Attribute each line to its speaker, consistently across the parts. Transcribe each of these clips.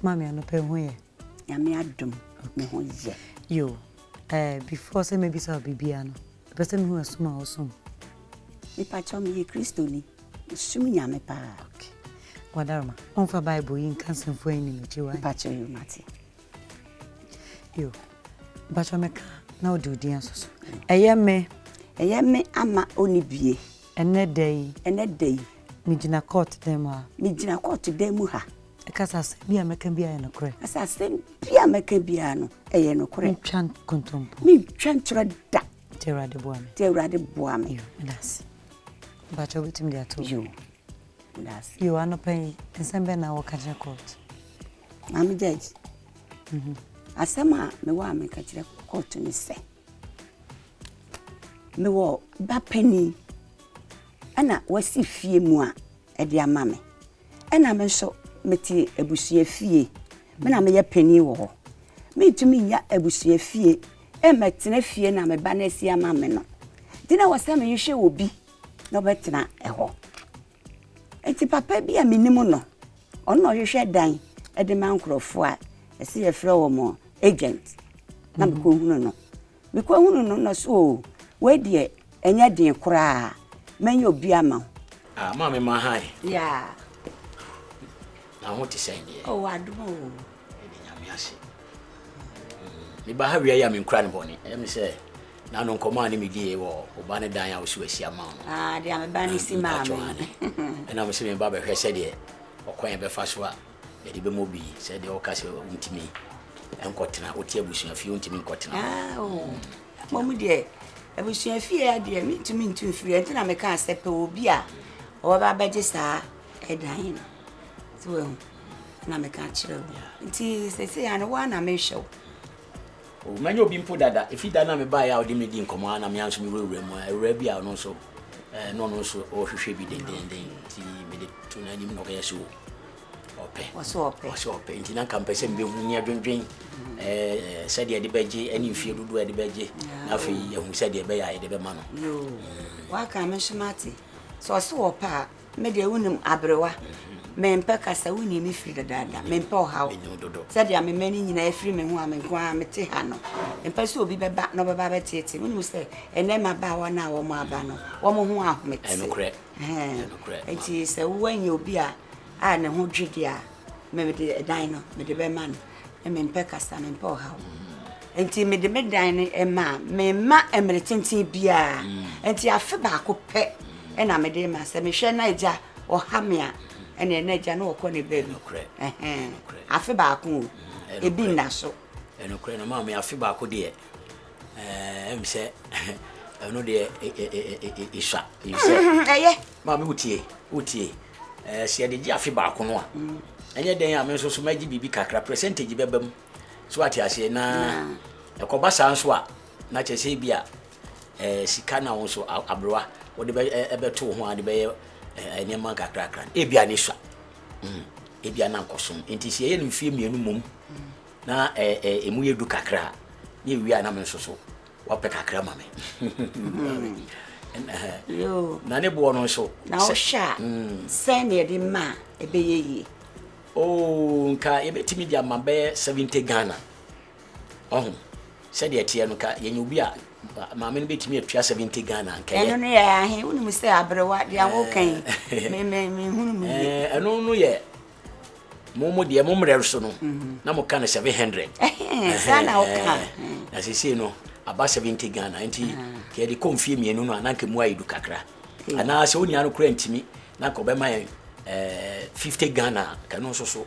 Speaker 1: Maame anɔpa ho yɛ. Nyame adom me ho yɛ. Yo eh before sɛ mɛbisa wo biribiara no mepɛ sɛ mehu ɛsom a wosom. Mepakyɛw meyɛ kristoni mesum Nyame paa. Ok wadaroma ɔmfa bible yi nka nsɛmfua yi nim akyi wai. Mepakyɛw yo mate. Yo mepakyɛw mɛka na wode odin asoso ɛyɛ me. Ɛyɛ me ama ɔnibie. Ɛnnɛ da yi. Ɛnnɛ da yi. Megyina kɔɔto dan mu ha. Megyina kɔɔto dan mu ha. Ɛka sɛ asɛm biara a mɛka biara yɛ nokorɛ. Ɛka sɛ asɛm biara a mɛka biara no, ɛyɛ nokorɛ. Mentwa nkontompo. Mentwa ntorɔ da. Nti Awurade boa me. Nti Awurade boa me. Yo, meda ase. Mpakyɛ wobɛtumi de ato. Yo, meda ase. Yo, anɔpa yi, nsɛm bɛn na wɔka kyerɛ kɔɔto? Maame Judge, mhm. asɛm a mewɔ a meka kyerɛ kɔɔto ne sɛ. Mewɔ ba panin ɛna wasi fie mu a ɛde ama me. Ɛna me nso mete abusua fie. Me na meyɛ panin wɔ hɔ. Mentumi nya abusua fie mmɛtena fie na me ba no asi ama me no. Nti na ɛwɔ sɛ mehwehwɛ obi na ɔbɛtena ɛhɔ. Enti papa bi a menim no, ɔno na ɔhwehwɛ dan de ma nkurɔfoɔ a ɛsɛ yɛfrɛ wɔn agent na mekɔhunu no. Mekɔhunu no na so o, wei deɛ ɛnyɛ den koraa, mɛnyɛ obi ama wo. Ah, maame Mahan. Yeah. Na ho te sɛn deɛ? Oh, adom o. Mede nyame ase. Meba ha wia yi a menkura ne bɔne. Ɛyɛ me sɛ na no nkɔmɔ a ne medie wɔ ɔba ne dan a wosi asi ama no. Ah, deɛ meba ne si maa me. Ɛna mo sɛ meba bɛhwɛ sɛdeɛ ɔkwan bɛfa so a yɛde bɛmɔ bi sɛdeɛ ɔka sɛ wontumi nkɔtena wote abusuafie wontumi nkɔtena. Ah, oh. Mmom deɛ abusuafie a deɛ mentumi ntu mfiri ɛnti na mekaa sɛ pɛ obi a ɔbɛba bɛgye saa ɛdan no. So wahu. na meka kyerɛ wo. Nti sɛsei ano wo a na mehwɛ wo. O, manya obi mpo dada. Efi da na mebaeɛ a ɔde me di nkɔmmɔ a na me nso mewurawura mu a awuraa bi a ɔno nso eh, na ɔno nso ɔrehwehwɛ bi dendenden nti mede to n'anim na ɔkɛyɛ so ɔpɛ ɔsɛ ɔpɛ nti na nka mpɛ sɛ mbɛhu ne adwendwen mm-hmm. eh, sɛdeɛ ɛde bɛgye ne mfie dodoɔ ɛde bɛgye na afei ahu sɛdeɛ ɛbɛyɛ a yɛde bɛma no mm. waka me nso mate sɛ ɔsɛ ɔpɛ a Me deɛ wonim aberewa mempɛ kasa wonni me firi dadaada mempɛ ɔhaw sɛdeɛ amema no nyinaa ɛfiri me ho a me nko ara mete ha no mpɛ sɛ obi bɛba na ɔbɛba bɛteete wonim sɛ ɛnɛ mmabaawa no a wɔn aba no wɔn ho ahomete nti sɛ woanyɛ obi a a ne ho dwe deɛ a mede ɛdan no mede bɛma no mempɛ kasa, mempɛ ɔhaw. Nti mede me dan no maa memma mmere tenten biara. Nti afe baako pɛ na mede ma sɛ mehwɛ na agya ɔha me a ɛne ɛna agya na ɔkɔ ne baabi. Afe baako o, ebi nna so. Ɛnokorɛ no maame afe baako deɛ ɛm sɛ ɛno deɛ ɛsua. Ɛyɛ. Maame wotie, wotie. Sɛ yɛde gye afe baako no a, ɛnyɛ dɛn a me nso so mɛgye biribi kakra, percentage bɛba mu. So ate aseɛ? Na ɛkɔba saa nso a, na kyerɛ sɛ bi a sika na wo nso aberewa wode bɛto wo ho a de bɛyɛ nneɛma nkakrakra no, ebi a ne sua. Mm, ebi a na nkɔsom. Nti sɛ yɛyɛ no mfeɛ mmienu mmom na ɛmu yɛ du kakra a, ne ɛwie a na me nso so Wapɛ kakra ma me. Na ne boɔ no nso. Na wohwɛ a mm. sɛn na yɛde ma a ɛbɛyɛ yie. Oo nka yɛbɛtumi de ama bɛyɛ seventy Ghana. Ɔho sɛdeɛ ɛteɛ no ka yɛnyɛ obi a maame no bɛtumi atua seventy Ghana nkɛyɛ. Ɛno no yɛ ahe wonim sɛ aberewa deɛ awoka yi eh. menhunu mu yie. Eh, ɛno no yɛ mo mo deɛ mo mmerɛ so no mhm. na mo ka no seven hundred saa na ɔka na sesei no aba seventy ghana nti ah. kɛ yɛde kɔ mfie mmienu no a na nka mu ayɛ du kakra anaa sɛ onua no kora ntumi na nka ɔbɛma yɛn eh, fifty ghana kano nso so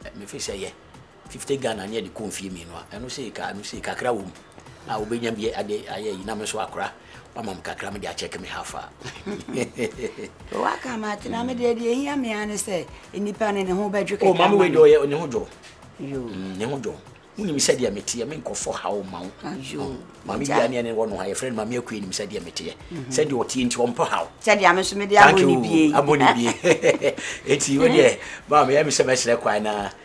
Speaker 1: eh, mefi sɛ yɛ Fifty Ghana ne ɛde kɔ mfie mmienu a ɛno sei ka ɛno sei kakra wɔ mu a wobɛnya bi ade ayɛ ayi na me nso akora wama me kakra mede akyɛke me half a waka ma ate na mede deɛ ɛhia me a ne sɛ nnipa no ne ho bɛdwe kakra oh, ma me wei deɛ ɔyɛ ne ho dwo mm, ne ho dwo wonim sɛdeɛ meteɛ me nkɔfɔ haw ma wo mame bia ne ɛne wɔ no ha yɛfrɛ no mame akue nim sɛdeɛ meteɛ mm-hmm. sɛdeɛ ɔteɛ nti ɔmpɔ haw sɛdeɛ me so mede abɔ ne bie abɔ ne bie ɛti wodeɛ mame ɛme sɛ mɛserɛ kwae naa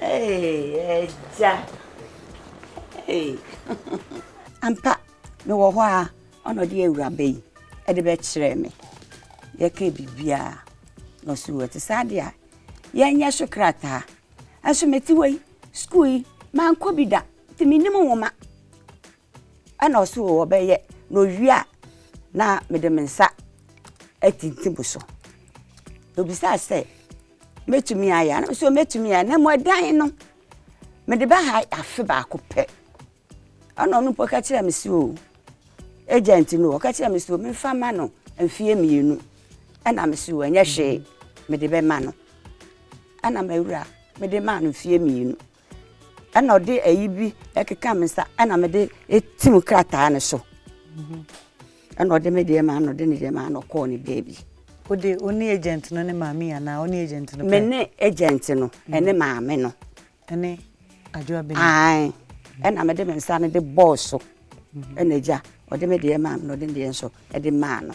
Speaker 1: Agya. Ampa, mewɔ hɔ a ɔna ɔde awuraba yi ɛde bɛkyerɛ me. Yɛka biribiara na ɔso wɔ te saa deɛ a yɛnyɛ so krataa. Nso mete hɔ yi, sukuu yi mankɔ bi da nti menim nwoma. Ɛna ɔse o ɔbɛyɛ na owie a na mede me nsa atintim so na obisaa sɛ mɛtumi ayɛ a na mesɛ mɛtumi ayɛ na mmom ɛdan no mede bɛha afe baako pɛ ɛna ɔno mpo ka kyerɛ me sɛ o agent no ɔka kyerɛ me sɛ memfa ma no mfeɛ mmienu ɛna me so ɛnyɛ hwee mede bɛma no ɛna mawura mede maa no mfeɛ mmienu Ɛna ɔde ayi bi ɛkeka me nsa ɛna me de etim krataa no so. Mhm. Ɛna ɔde me deɛ maa no ɔde ne deɛ maa no ɔkɔɔ ne baabi. Ode ɔne agent no ne maame anaa ɔne agent no pɛ? Me ne agent no mhm. ɛne maame no. Ɛne adwoa bɛni. Ae ɛna me de me nsa no de bɔɔl so mhm. ɛna gya ɔde me deɛ maa no ɔde ne deɛ nso ɛde maa no.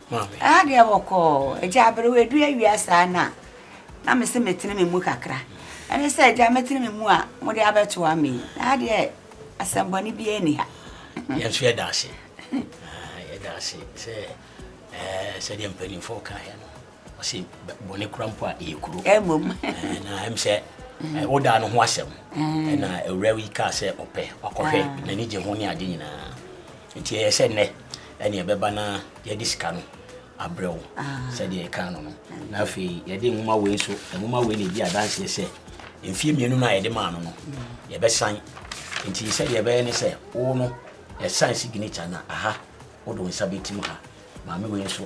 Speaker 1: maame. Ɛha deɛ bɔkɔɔ. Agya aberewa ɛdu awia saa no a, na me se metene me mu kakra. Ɛne sɛ agya mɛtene me mu a, mode abɛtoa me yi. Ɛha deɛ asɛmmɔne biara nni ha. Yɛn nso yɛda ase. Yɛda ase sɛ sɛdeɛ mpanimfoɔ kaeɛ no, ɔse bɔne kora mpo a ɛyɛ kuro. Ɛmom. Na ɛm sɛ wodaa no ho asɛm. Ɛna awura yi kaa sɛ ɔpɛ, wakɔhwɛ, n'ani gye ho ne ade nyinaa. Enti ɛyɛ sɛ nnɛ ɛne ɛbɛba na yɛde sika no abrɛ wo sɛdeɛ yɛkaa no no na afei yɛde nwoma wei nso nwoma wei na ɛdi adanseɛ sɛ mfeɛ mmienu no a yɛde maa no no yɛbɛsan nti sɛdeɛ ɛbɛyɛ ne sɛ wo no yɛsan signature na aha wode wo nsa bɛtim ha maame wei nso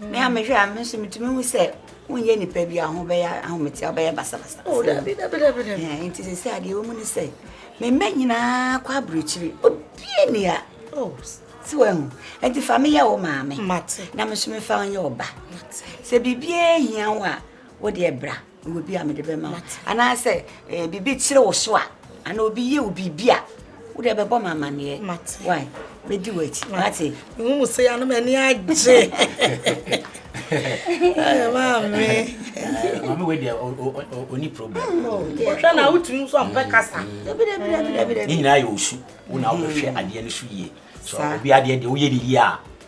Speaker 1: Me a mehwɛ a me nso metumi hu sɛ wonyɛ nipa bi a ho bɛyɛ ahomete a wobɛyɛ basabasa oh, eh, nti sɛ sɛ adeɛ wɔ mu ne sɛ mema nyinaa kɔ aburokyiri obie ni a oh. si wahu nti fa meyɛ wo maame na me nso mefa wo nyɛ wo ba sɛ biribiaa hia wo a wodeɛ bra Wɔ bi a mede bɛma wo anaasɛ eh, biribi kyere wo so a anaa obi yɛ wo biribi a wode ɛbɛbɔ ma amanneɛ wae mɛdi w'akyi mate mehu mu sɛ anom ani agye maame maame wei deɛ ɔni problem wohwɛ na wotumi nso ampɛ kasa ne nyinaa yɛ ɔsu wo na wobɛhwɛ adeɛ no so yie so obi adeɛ deɛ woyɛ ne yie a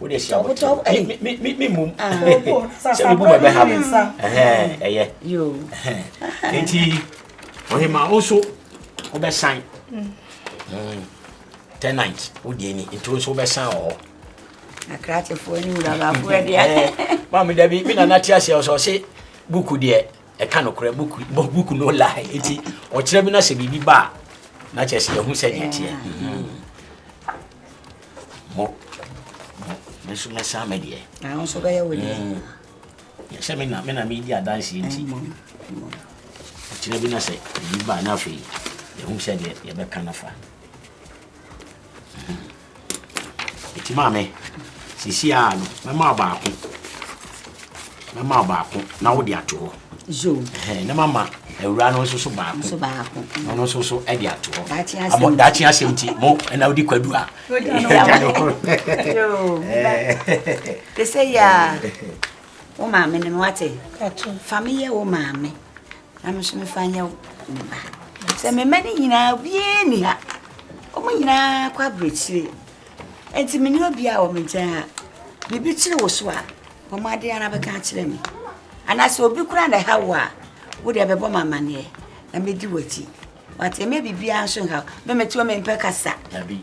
Speaker 1: wo de hyia wo tɔ ɛyi mi mi mi mi mu sɛ mi bu ma bɛ ha mi ɛhɛn ɛyɛ ɛhɛn eti ɔhema wo nso wo bɛ san tenant wo deɛ ni nti wo nso wo bɛ san wɔ hɔ. akrakyefoɔ ne wurabafoɔ deɛ. maame dabi mi nana ti ase ɔsɔ se buku deɛ ɛka no korɛ buku buku no la eti ɔkyerɛ mi na sɛ biribi ba a na kyerɛ sɛ yɛn ho sɛ deɛ teɛ. Mo, mo, me nso mɛsan me deɛ. Na wo nso bɛyɛ wo deɛ. Mm. Sɛ me na me na medi adanseɛ nti. Kyerɛ bi na sɛ ebi baa na afei yɛhu sɛ deɛ yɛbɛka no fa. Ɛti maame, sisi a no, mɛma baako. mɛma wo baako na wode ato hɔ na mama awura no nso so baako na ɔno nso so de ato hɔ ama daakye asɛm nti mo ɛna wode kwadu a te sɛ yɛ a wo maame no no wate fa meyɛ wo maame na me so mefa nyɛ ne ba sɛ mema no nyinaa obiaa ni ha ɔmo nyinaa kɔ aberɛkyire Enti menni obiara wɔ me nkyɛn a biribi kyere wo so a, bɔ mmɔden ara bɛka akyerɛ me. Anaa sɛ obi koraa na ɛha wo a, wo deɛ bɛbɔ me amanneɛ na mɛdi w'akyi. Wate, ɛmɛ biribiara nso nha wo. Me mete hɔ mempɛ kasa. Dabi.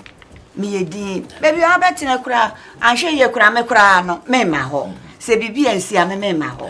Speaker 1: Meyɛ din. Baabi a wobɛtena koraa, anhwɛ yie koraa, me koraa no, memma hɔ. Sɛ biribi ansi a, me memma hɔ.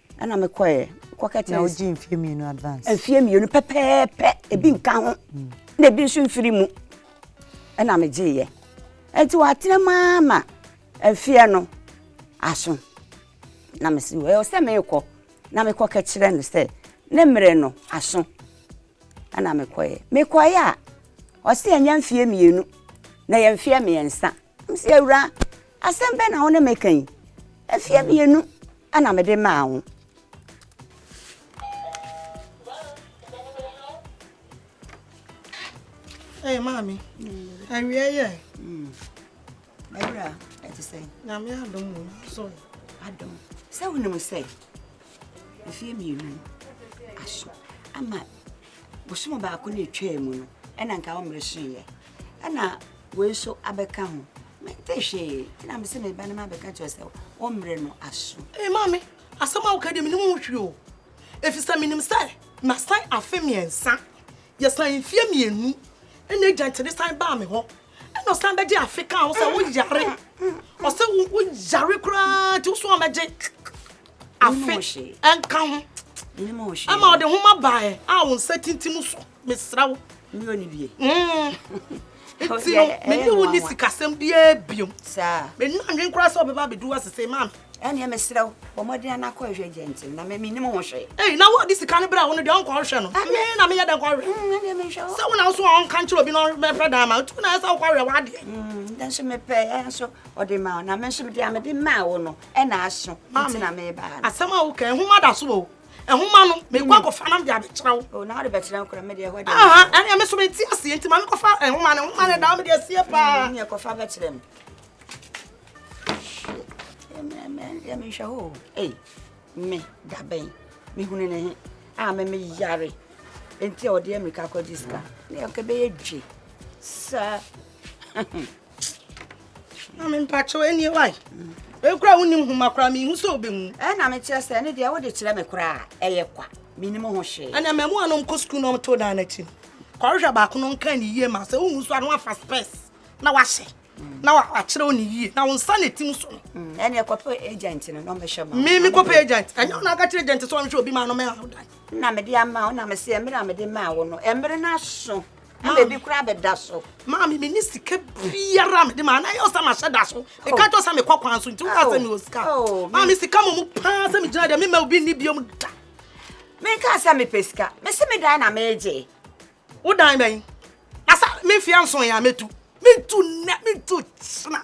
Speaker 1: ɛna me kɔɛ kɔkɛ tɛ na wogye mfie mmienu advance mfie mmienu pɛpɛɛpɛ ebi mm. nka ho mm. na ebi nso mfiri mu ɛna me gyeeɛ nti wɔatena mu ama mfie no aso na me si ɛwɔ sɛ meekɔ na mekɔ kɛkyerɛ no sɛ ne mmerɛ no aso ɛna mekɔɛ mekɔɛ a ɔse ɛnyɛ mfie mmienu na yɛ mfeɛ mmiɛnsa Ɔse awuraa asɛm bɛn na wo ne me ka yi? Afie mmienu ɛna mede maa wo. Ɛyɛ maame, awie yɛ. Awura, ɛte sɛ. Nyame adom mu, so. Adom. Sɛ wonim sɛ, mfeɛ mmienu aso ama bosom baako na ɛtwaa mu no, ɛna nka wo mmere hyeeɛ. ɛna wei nso abɛka ho mente hwee ɛna mese meba no mabɛka kyerɛ sɛ wo mmerɛ no aso ee maame asɛm a woka deɛ menim ho hwee o ɛfiri sɛ menim sɛ masan afe mmiɛnsa yɛsan mfie mmienu ɛna agya nkyɛde san baa me hɔ ɛna ɔsan bɛgye afe kaa ho sɛ woyare ɔsɛ woyare koraa nti woso amɛgye afe ɛnka ho ɛma ɔde homa baeɛ a wo nsa tintim so mesrɛ wo meyɛ ne wie nti no mene wo ne sikasɛm biaa biom menu anwen koraa sɛ ɔbɛba abɛdu wa sesei ma ɛneɛ mesrɛ wo bɔ mmɔden ana kɔ hwɛ gyɛnte na menim ho hwee ei na wode sika no berɛ wo no deɛ ɔnkɔ hwɛ no me na meyɛ dɛn kɔ hwɛ sɛ wo na wo so ɔnka nkyerɛ obi na ɔbɛpɛ dan ma tu na ɛsɛ wokɔ hwɛ wadeɛ dɛ nso mepɛ ɛ nso ɔde ma na me nso deɛ mede maa wo no ɛna aso nti na mebaa no asɛm a woka ɛhoma da so o ɛhoma no mekɔ akɔfa nam de abɛkyerɛ wo oh, na wode bɛkyerɛ nkora medeɛ hɔ ɛneɛ me so mete aseɛ nti ma mekɔfa ɛhoma no ɛhoma no daa mede aseɛ paa mm, neɛ kɔfa bɛkyerɛ me yɛ menhwɛ hɔ ei me dabɛn mehunu ne he a me meyare enti a ɔde ammirika kɔgye sika ne ɛkɛbɛyɛ dwe saa Mami mpakyɛw ɛni wae. Ekura wo nim homa kura mi hu sɛ obehu. Ɛ na me kyerɛ sɛ ɛne deɛ wode kyerɛ me koraa ɛyɛ kwa. Me nim ho hwee. Ɛna mɛmo anom kɔ sukuu na ɔmto dan n'akyi no. Kɔhwehwɛ baako no nka ne yie ma sɛ wohu so a na wafa spɛs na wahyɛ mm. na wakyerɛw ne yie na wo nsa na ɛtim so no. Mm. Ɛne ɛkɔpɛ agent no na ɔmɛhyɛ ma. Me me kɔpɛ agent. Ɛnyɛ wo na aka kyerɛ agent sɛ ɔmhwɛ obi ma no mɛ awo dan. Na mede ama wo na mesɛ mmerɛ a mede maa wo no ɛmmerɛ no aso. ɛna ebi koraa bɛda so. maame mi ni sika biara mi de ma anayɛ ɔsɛ ma hyɛ da so mi ka kyɛ sɛ mi kɔ kwan so nti wúkà sɛ mi wɔ sika maame sika mu mu paa sɛ mi gyina deɛ mi ma obi ni biom da. mi nka sɛ mi pɛ sika mi si mi dan na mi gye. wo dan bɛn na sa mi nfia nson yɛ a mi tu mi tu nɛ mi tu kyina.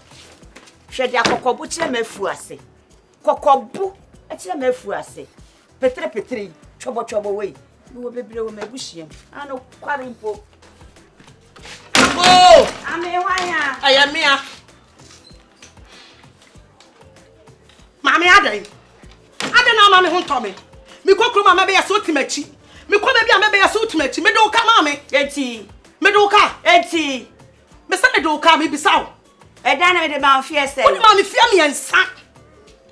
Speaker 1: hwɛ deɛ kɔkɔbo kyerɛ m'afuo ase kɔkɔbo kyerɛ m'afuo ase peterepetere yi twɔbɔtwɔbɔ wɔ yi mewɔ bebree wɔ m'abusua mu ano kware mpo oo amehwanya ɛyɛ mmea maame adɛn adɛn na ama me ho ntɔ me mekɔ kurom a mɛbɛyɛ sɛ wotim akyi mekɔ baabi a mɛbɛyɛ sɛ wotim akyi mede wo ka maame eti mede wo ka eti Me sɛ mede wo kaa me bisa wo. Ɛdan no mede ma mfeɛ sɛ. Wode ma me fie mmiɛnsa.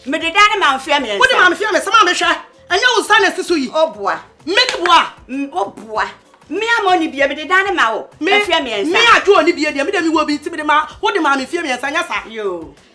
Speaker 1: Mede dan no ma mfeɛ mmiɛnsa. Wode ma me fie mmiɛnsa ma mehwɛ. Ɛnyɛ wo nsa na ɛsi so yi. O boa. Me ne boa. O boa. Me ama ɔni bie mede dan no ma wo. Mfeɛ mmiɛnsa. Me adwo ɔni bie deɛ me deɛ me wɔ bi nti mede ma wode ma me fie mmiɛnsa nyɛ saa. Yoo.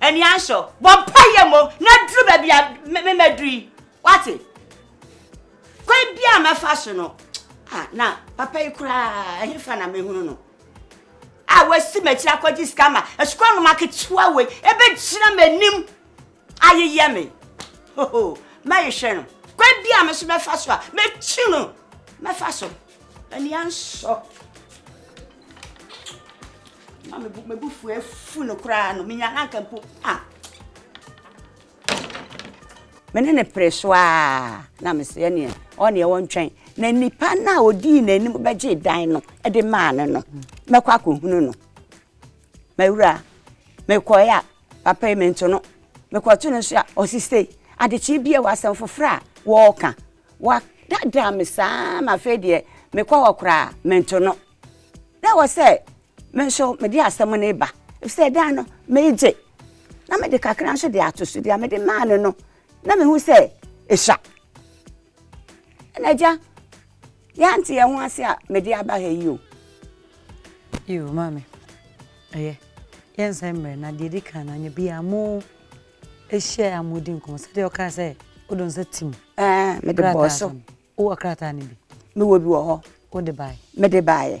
Speaker 1: Ani ansɔ. Bɔ mpa yɛ mmom na duru baabi a mɛduru yi. Wate? Kwan bi a mɛfa so no, ah, na papa yi koraa ɛhefa na mehunu no. A wasi m'akyiri akɔgye sika ma asukuu anoma ketewa wei ɛbɛgyina m'anim ayeyɛ me. Hoho, mɛyehwɛ no. Kwan bi a me so mɛfa so a, mɛkyi no. Mɛfa so. Ani ansɔ. Na me bu me bu fu afu no koraa no menya na nka mpo a. Me ne ne pere so a na me sɛ ɛneɛ ɔneɛ wɔntwɛn na nipa no a ɔdii n'anim bɛgye dan no de maa no no mɛkɔ akɔhunu no mawura mekɔɛ a Papa yi mento no, mekɔto no nso a ɔse sei. Adekyee bi a ɛwɔ asɛm foforɔ a wɔreka. Wɔadaadaa me saa ara ma afei deɛ mekɔ hɔ koraa a, mento no. Na ɛwɔ sɛ me nso mede asɛm no reba efisɛ ɛdaa no meregye na mede kakra nso de ato so. Deɛ mede maa no no, na mehu sɛ esua. Ɛnna agya Yɛante yɛn ho ase a mede aba ha yi o. Yiw, Maame. Ɛyɛ. Yɛnsan mmrɛ, na deɛ ɛdi kan no, anwea biara mo hyia a modi nkɔmmɔ sɛdeɛ wokaa sɛ wode wo nsa tim. Ɛɛ, mede bɔɔ so. Wowɔ krataa no bi? Mewɔ bi wɔ hɔ. Wode baeɛ? Mede baeɛ.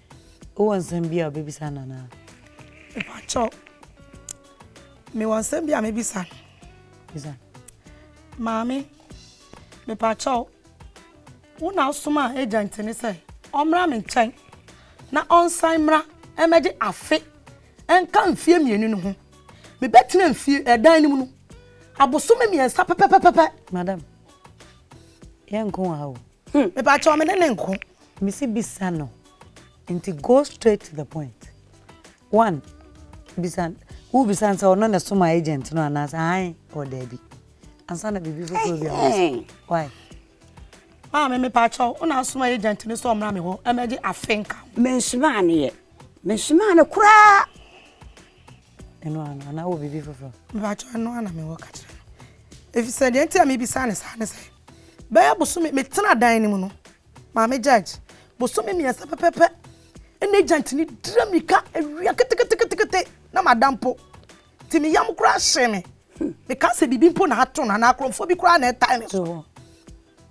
Speaker 1: Wowɔ nsɛm bi a wobɛbisa no anaa? Mepakyɛw, mewɔ nsɛm bi a mɛbisa no. Bisa. Maame, mepakyɛw, wo na wosomaa agent no sɛ ɔmmra me nkyɛn na ɔnsan mmra mmɛgye afe nka mfeɛ mmienu no ho. Mebɛtena mfie ɛdan no mu no abosome mmiɛnsa pɛpɛpɛpɛ. Madam, yɛnko wɔ ha o. Hmm mepakyɛw me ne no nko. Mese bisa no nti go straight to the point one bisa wo bisa no sɛ ɔno na soma agent no anaasɛ ahan ɔ daabi ansa na biribi foforɔ bi a why maame mepakyɛw wo na asoma agent no sɛ ɔmmra me hɔ ɛmɛgye afe nka mensomaa no yɛ mensomaa no koraa Ɛno ara no, anaa wowɔ biribi foforo? Mepakyɛw, ɛno ara na mewɔ ka kyerɛ no. Efisɛ nea enti a mibisa no saa ne sɛ, bɛyɛ bosome, metena dan no mu no, Maame Judge, bosome mmiɛnsa pɛpɛɛpɛ na agent no dira mmirika awia keteketekete na mada mpo. Nti me yam koraa hyee me. Mekaa sɛ biribi mpo na ato no anaa akorɔmfoɔ bi koraa na ɛtae me so. So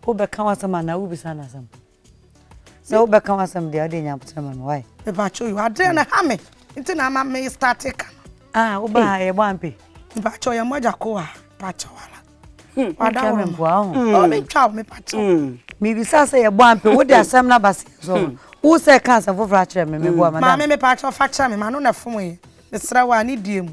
Speaker 1: wobɛka w'asɛm anaa wobisa no asɛm? sɛ wobɛka w'asɛm deɛ wode nya kyerɛ ma me wae mepakyɛ yo adeɛ no ha me nti na ama me starte ka no ah woba ha yɛbɔ ampe mepakyɛ yɛ mmɔgya ko a pakyɛ wala hmm, wada worɔ ma ɔbɛtwa hmm. wo mepakyɛ hmm. mebisa sɛ yɛbɔ ampe wode asɛm no aba seɛ so wo sɛ ka asɛm foforɔ akyerɛ me meboa madam maame mepakyɛ fa kyerɛ me ma no na fom yɛ mesrɛ wo a ne die mu